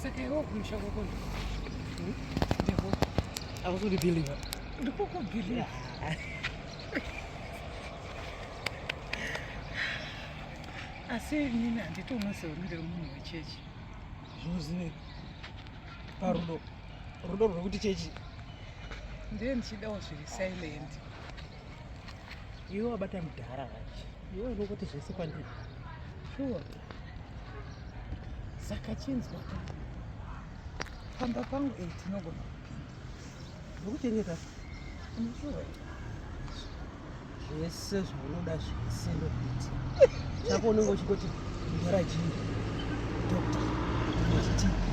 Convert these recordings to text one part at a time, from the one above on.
Saka iwe kumusha kwako ndiko akukuribhiliva ndiko kubhiliva asi nini handiti unoseonire munhu wechechi zvinozivei parudo rudo rwekuti chechi ndiye ndichidawo zviri silent iwe wabata mudhara vachi iwe unongoti zvese kwandiri shuwa saka chinzwa ka pamba pangu ei tinogona ndokuchengeta unoshuwa zvese zvaunoda zvese ndokuti chako unenge uchingoti mudhara chii doctor nechitiki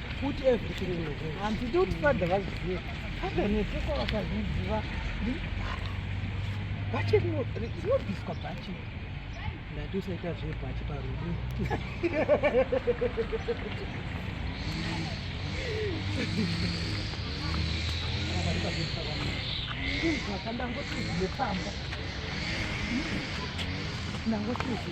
Put everything in your hands. Hanzi ndi kuti father vazive. Father nekuko vakazviziva. Bachi rinobviswa bachi. Ndati usaita zvebachi parudo. Ndangoti ndangoti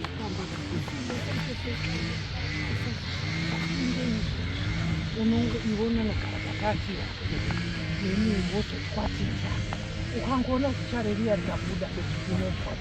unonge iwe unonogara pakatira ini wozokwatisa ukangoona kuti chare riya rikabuda unobva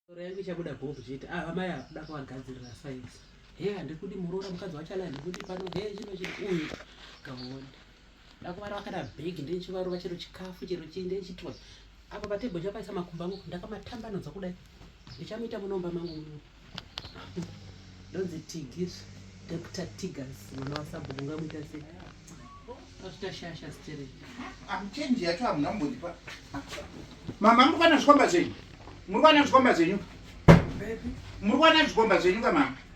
Roho yangu ichabuda gogo chete. Ah, amai akuda kuvagadzirira sainzi. He, handikudi muroora mukadzi wacho ala handikudi pano. He, chino chino uyu. Kaone. ndakuvara vakada big ndechivarova chero chikafu chero chii ndechitwa apa patebho chapaisa makumba angu ndakamatambanudza kudai ndichamuita munomba mangu muno ndonzi tigis dr tigers mwana wasabhuku ngamuita sei azvitashasha stere amuchenji yacho hamuna mbondipa mama muri kwana zvikomba zvenyu muri kwana zvikomba zvenyu muri kwana zvikomba zvenyu kamama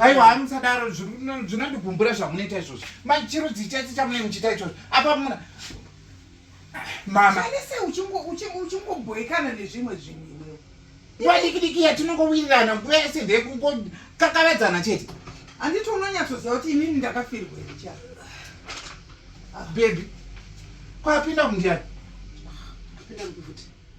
aiwa hamusadaro zvinondigumbura zvamunoita izvozvo mai chiro dzichese chamunei muchiita izvozvo apa muna mamanese uchingobhoekana nezvimwe zvinhu nguva dikidiki yatinongowirirana nguva yese ndekukakavadzana chete handiti unonyatsoziva kuti inini ndakafirwa icha ah, bebi kwapinda kundiani apinda mukufuti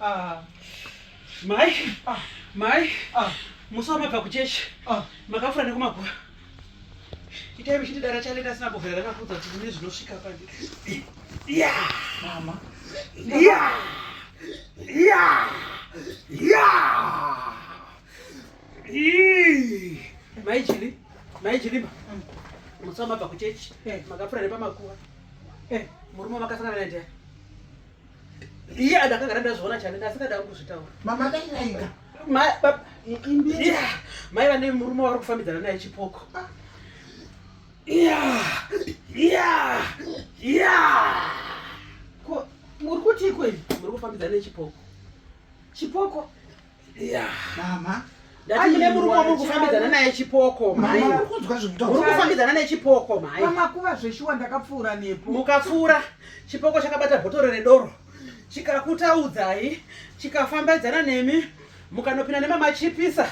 Ah. Mai, ah. mai, ah. musi wamabva kuchechi ah. makafura nekumagura itai muchiti dara chaleta asina bovhera rakakudza kuti mune zvinosvika pandi ya mama ya ya ya mai jili mai jiliba mm. musi wamabva kuchechi eh. makafura nepamakuva eh. murume makasangana naye ndiani iye adakagara ndazviona chane ndasikada kuzvitaura mama daiaika mai vane murume wavari kufambidzana naye chipoko ah. muri kutiiko ivi muri kufambidzana nechipoko chipoko mama ndati mune murume wamuri kufambidzana naye chipoko maiuri kufambidzana nechipoko mai makuva zveshuwa ndakapfuura nepo mukapfuura chipoko chakabata bhotoro redoro chikakutaudzai chikafambidzana nemi mukanopinda nemamachipisa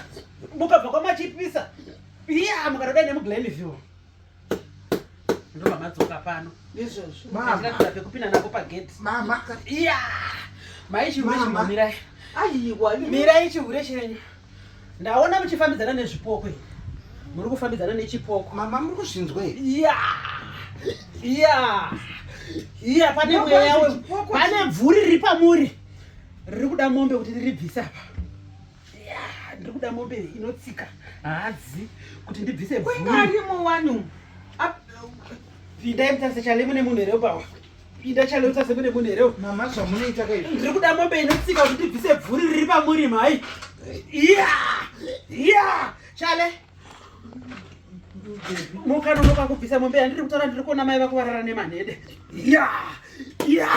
mukabva kwamachipisa iya mukanodai nemuglenville ndomamadzoka pano nezvozvokupinda nako pageti iya maichiurechimumirai mirai chihure chenyu ndaona muchifambidzana nezvipoko i muri kufambidzana nechipoko mama muri kuzvinzwa iya iya iya pane mweya pane bvuri riri pamuri riri kuda mombe kuti riribvise apa ndikuda mombe inotsika haadzi kuti ndibvise bvuuarimo wanu pinda mutase chale mune munhu here upawa pinda chale mutase mune munhu here mama zvamunoita kai ndiri kuda mombe inotsika kuti ndibvise bvuri riri pamuri mhai iya iya chale mukanonoka kubvisa mombe yandiri kutaura ndiri kuona mai vako varara nemanhede ya ya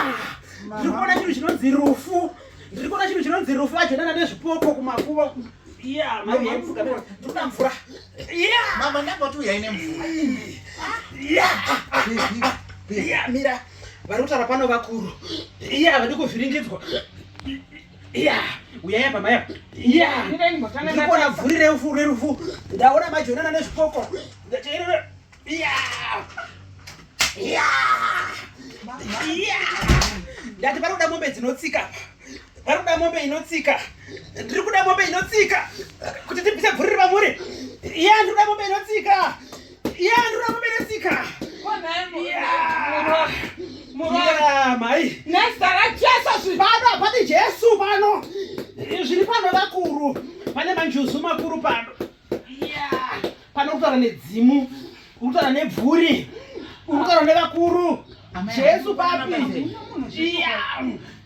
ndiri kuona chinhu chinonzi rufu ndiri kuona chinhu chinonzi rufu ajonana nezvipoko kumakuva ya mai yaimuka ndoda mvura ya mama ndakati uyai nemvura ya ya mira vari kutaura pano vakuru ya vadi kuvhiringidzwa Yeah, uyai apa maya. Yeah. Ndikuona vhuri rerufu rerufu. Ndaona majonana nezvipoko. Ndateerera. Yeah. Yeah. Yeah. Ndati pari kuda mombe dzinotsika. Pari kuda mombe inotsika. Ndiri kuda mombe inotsika. Kuti tibvise vhuri revamuri. Yeah, ndiri kuda mombe inotsika. ya ndura kuberesika mai nezita rajesu zvipano hapadi jesu pano zviri pano vakuru pane manjuzu makuru pano pano kutaura nedzimu kutaura nebvuri kutaura nevakuru jesu papi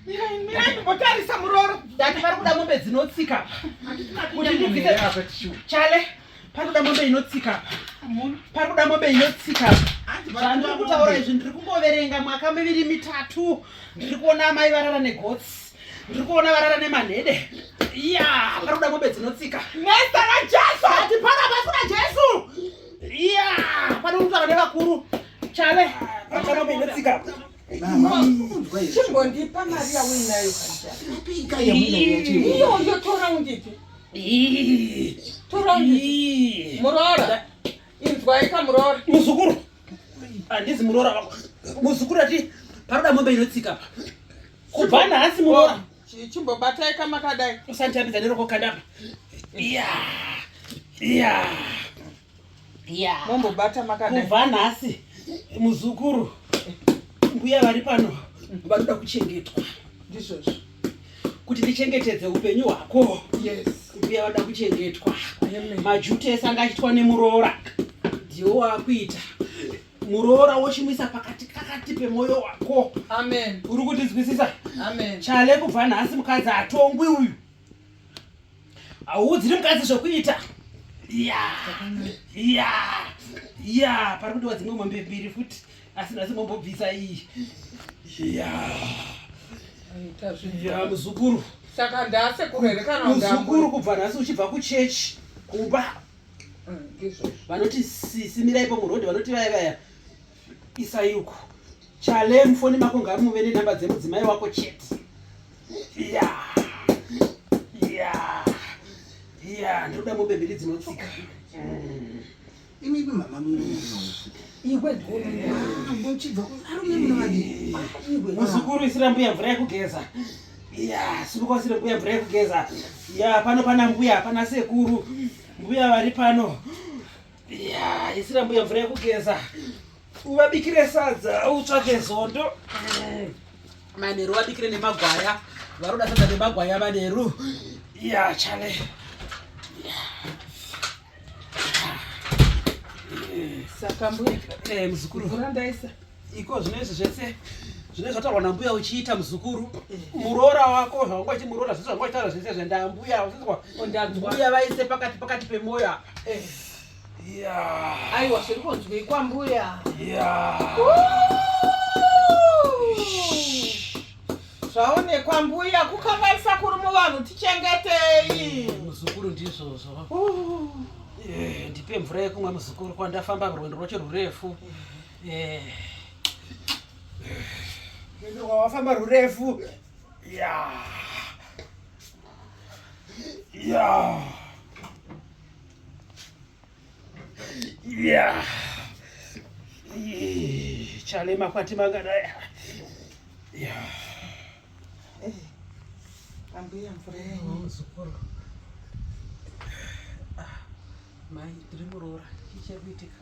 ndimbotarisa muroro ndati vari kuda mombe dzinotsika kuti ndibvise chale Parikuda mombe inotsika apa. Parikuda mombe inotsika apa. Zvandiri kutaura izvi ndiri kungoverenga mwaka miviri mitatu. Ndiri kuona amai varara negotsi. Ndiri kuona varara nemanhede. Iya, parikuda mombe dzinotsika. Nezita raJesu hati pana basa raJesu. Iya, pano kutaura nevakuru. Chave, parikuda mombe inotsika apa. chimbondipa mari yauinayo iyoyo toraundipi toraundipi muroora inzwaika muroora muzukuru handizi muroora vako muzukuru ati paroda mombe inotsika pa kubva nhasi muroora chimbobatai kamakadai usanditambidza neroko kandapa iya iya mombobata makadai kubva nhasi muzukuru mbuya vari pano vanoda kuchengetwa ndizvozvo kuti ndichengetedze upenyu hwako yes mbuya vanoda kuchengetwa majuti ese anga achitwa nemuroora ndiwo waakuita muroora wochimuisa pakati kakati pemwoyo wako amen uri kundinzwisisa amen chale kubva nhasi mukadzi hatongwi uyu hauudziri mukadzi zvekuita ya ya ya pari kudiwa dzimwe mombe mbiri futi asi nhasi mombobvisa iyi ya ya muzukuru saka ndase kurerekana muzukuru kubva nhasi uchibva kuchechi kumba mm, vanoti sisi miraipo murodhi vanoti vaya vaya isayuku chale mufoni mako ngamuve nenhamba dzemudzimai wako chete ya ya ya ndoda mombe mbiri dzinotsika mm. imi ivi mama muzukuru isira mbuya mvura yekugeza ya simuka usira mbuya mvura yekugeza ya pano pana mbuya pana sekuru mbuya vari pano ya isira mbuya mvura yekugeza uvabikire sadza utsvake zondo mm. manheru vabikire nemagwaya varoda sadza nemagwaya manheru ya chale saka mbuya eh, muzukuru vura ndaisa iko zvino izvi zvese zvine zvataurwa nambuya uchiita muzukuru eh. muroora wako zvawanga uchimuroora zvese zvanga uchitaura zvese zvenda mbuya usinzwa mbuya vaise pakati pakati pemwoyo apa eh. aiwa zviri kunzwei kwambuya zvaonekwa mbuya kukangaisa kuri muvanhu tichengetei muzukuru ndizvozvo eh, ndipe mvura yekumwa muzukuru kwandafamba rwendo rwacho rurefu Mwendo wawafamba rurefu. Ya. Ya. Ya. Chale makwati mangadaya. Ya. Eh. Ambuya mvura yenyu zukuru. Ah. Mai tiri muroora. Chichiri kuitika.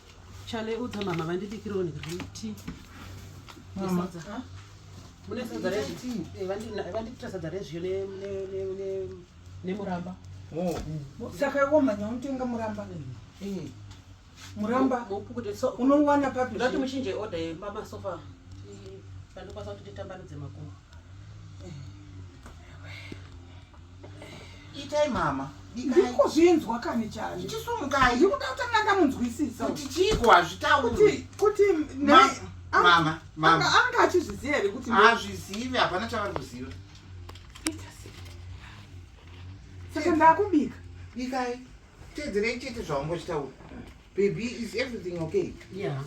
Chale udza mama vandibikirawo nekuti mama ah? mune sadza rezvi eh, vandiitira sadza rezviyo nemuramba oh. mm. saka iwo mhanya unotenga muramba mm. eh. muramba unowana papi ndati muchinje order yemamasofa eh, andikwanisa kuti titambanudze makumbo itai mama ndiko zvinzwa kani chai ndichisumukai ndikuda kuti anga ndamunzwisisa kuti chiiko hazvitauri kuti mama mama anga achizviziva here kuti hazvizivi hapana chavari kuziva saka ndakubika bikai teedzerei chete zvaungochitaura baby is everything okay yeah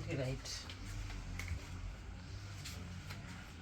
okay right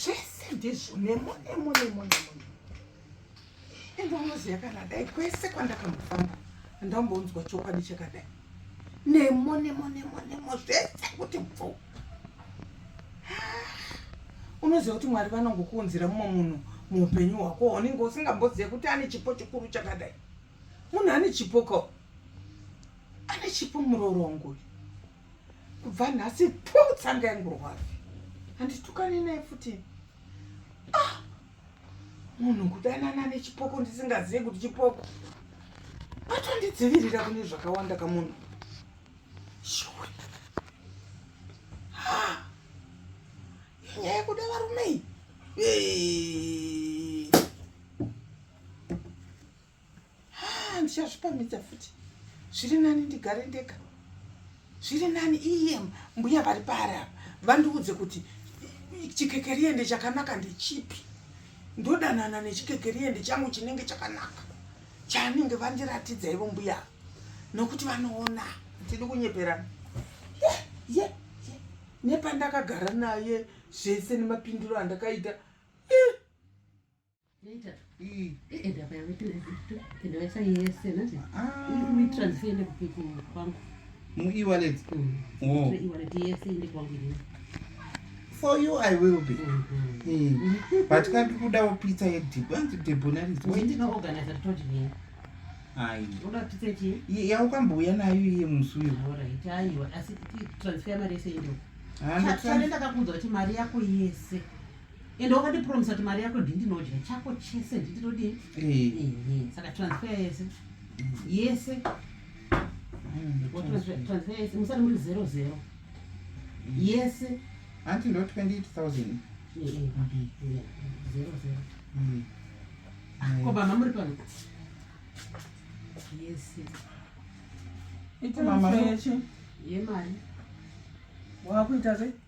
zvese ndizvo nemo nemo nemo nemo ende unoziva kana dai kwese kwandakambofamba andambonzwa chokwadi chakadai nemo nemo nemo nemo zvese kuti bvu unoziva kuti mwari vanongokuunzira mumwe munhu muupenyu hwako unenge usingambozive kuti ane chipo chikuru chakadai munhu ane chipo ko ane chipo murorongo uyu kubva nhasi pu tsanga yangu rwavi handitukane naye futi ah! munhu kudanana nechipoko ndisingazivi kuti chipoko atondidzivirira kune zvakawanda kamunhu shuwa nyaya yekuda varumei haa ndichazvipamidza futi zviri nani ndigare ndega zviri nani iye mbuya vari paari apa vandiudze kuti chikekeriende chakanaka ndechipi ndodanana nechikekeriende changu chinenge chakanaka chaanenge vandiratidza ivo mbuya nokuti vanoona tidi kunyeperana ye ye ye nepandakagara naye zvese nemapindiro andakaita muewallet for you i will be mm -hmm. mm. but ka ndikudawo pizza yedhibu anzi debonarisoaii yaukambouya nayo iye musi uyo ndakakunza kuti mari yako yese ende wakatipromisa kuti mari yako ndindinodya chako chese ndindinodii eh. saka transfer yese yese transfer yese musati muri zero zero yese hanti ndo 28000 zero zero mm. ko baba muri pano yese itamama yemari wakuita sei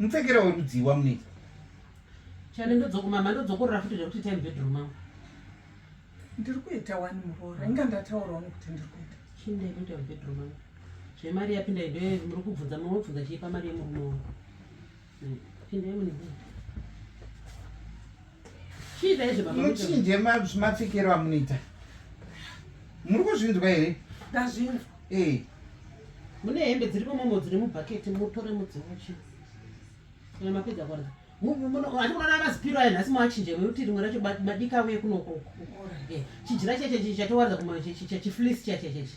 mupfekera werudzii wamunoita chane ndodzokuma mando dzokorora futi zvekuti time bedroom mangu ndiri kuita wani muroora inga ndataura wani kuti ndiri kuita chii ndaikuita mubedroom mangu zvemari yapinda ido muri kubvunza mumwe obvunza chii pamari yemurume wangu hmm. pinda yemunibei muchinje mapfekero amunoita muri kuzvinzwa here ndazvinzwa eh. mune hembe dziri pamomo dziri mubhaketi mutore mudzimuchi kana mapedza kwana andikuona mazipiro ayo nhasi mawachinje wekuti rimwe racho madika uye kunokoko eh, chijira chacho chichi chatowaridza kumachiflisi chacho chachi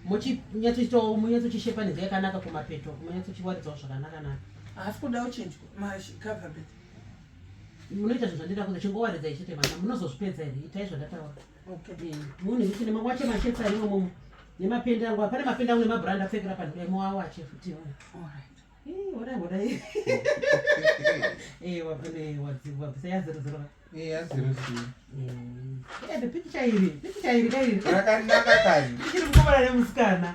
monyatsoitawo monyatsochishepaniza yakanaka kumapeto monyatsochiwaridzawo zvakanaka naka haasi kudawo chinjwa macoverbet munoita zvinhu zvandida kuza chingowaridza ichete vana munozozvipedza here itai zvandataura eh, munhu ichine mawache machetse arimo momo nemapende angu pane mapende angu nemabrand apfekera panhu dai moawache futi hodai hodai wabvisa yazirozirova pikicha iri pikicha iri kairi rakanaka kani ichiri mukuvara nemusikana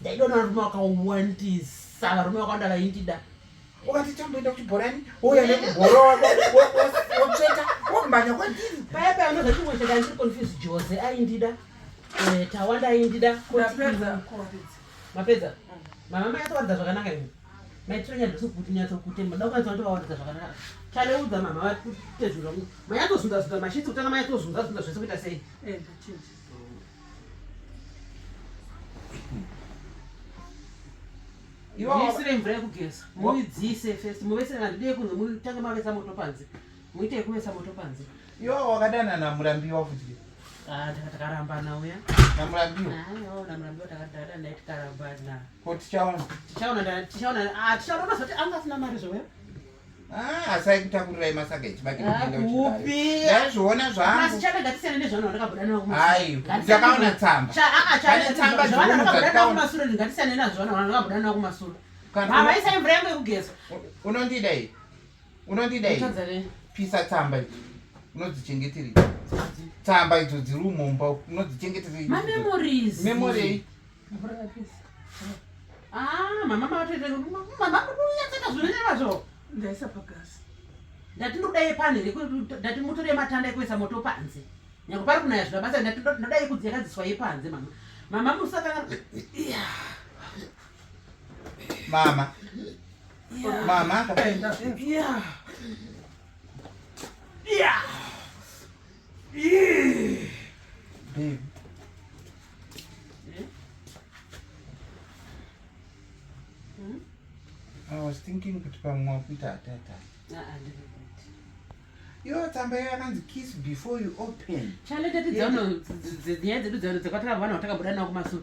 ndaidona varume vakawandisa varume vakawanda vaindida ukati tamboenda kuchibhorani wouya nekubhora wako wotsveta womhanya kwandiri paya paya ndoza chimwe cheka ndiri confuse jose aindida eh, tawanda aindida mapedza mama mayatowaridza zvakanaka imi maitiranyadzokuti nyatsokuti mada kunyatso vatovawaridza zvakanaka taleudza mama vatezvira mayatozunzazunza mashitsi kutanga mayatozunzazunza zvese kuita sei eh, muisire mvura yekugeza muidzise first muvese handidei kunze mutange mavesa moto panze muite yekuvesa moto panze iwo wakadana namurambiwa futi ah, takarambana uya namurambiwa ah, namurambiwa takadana naye tikarambana ko tichaona tichaona tichaona ah, tichaona unozoti anga asina mari zvoya Ah, asi aikutakurira masaga echibage ndazviona zvanguaiakaona tsambaaaisa imvura yangu yekugeza unondida i unondida i pisa tsamba idzo unodzichengeterei tsamba idzo dziri umomba unodzichengeterei Mvura yapisa. Ah, mama matoita mama kunyatsoita zvinhu nezvo. Ndaisa pagasi. Ndati ndoda yepani here ndati mutore matanda ekuisa moto panze. Nyangwe pari kunaya zvino basa ndati ndoda yekudzi yakadziswa yepanze mama. Mama musakanga Mama. Mama. Yeah. Yeah. thinking kuti pamwe wakuita atata ah, yo tsamba iyo anonzi kiss before you open chale tatinyaya dzedu dzakwataka vana vatakabuda navo kumasure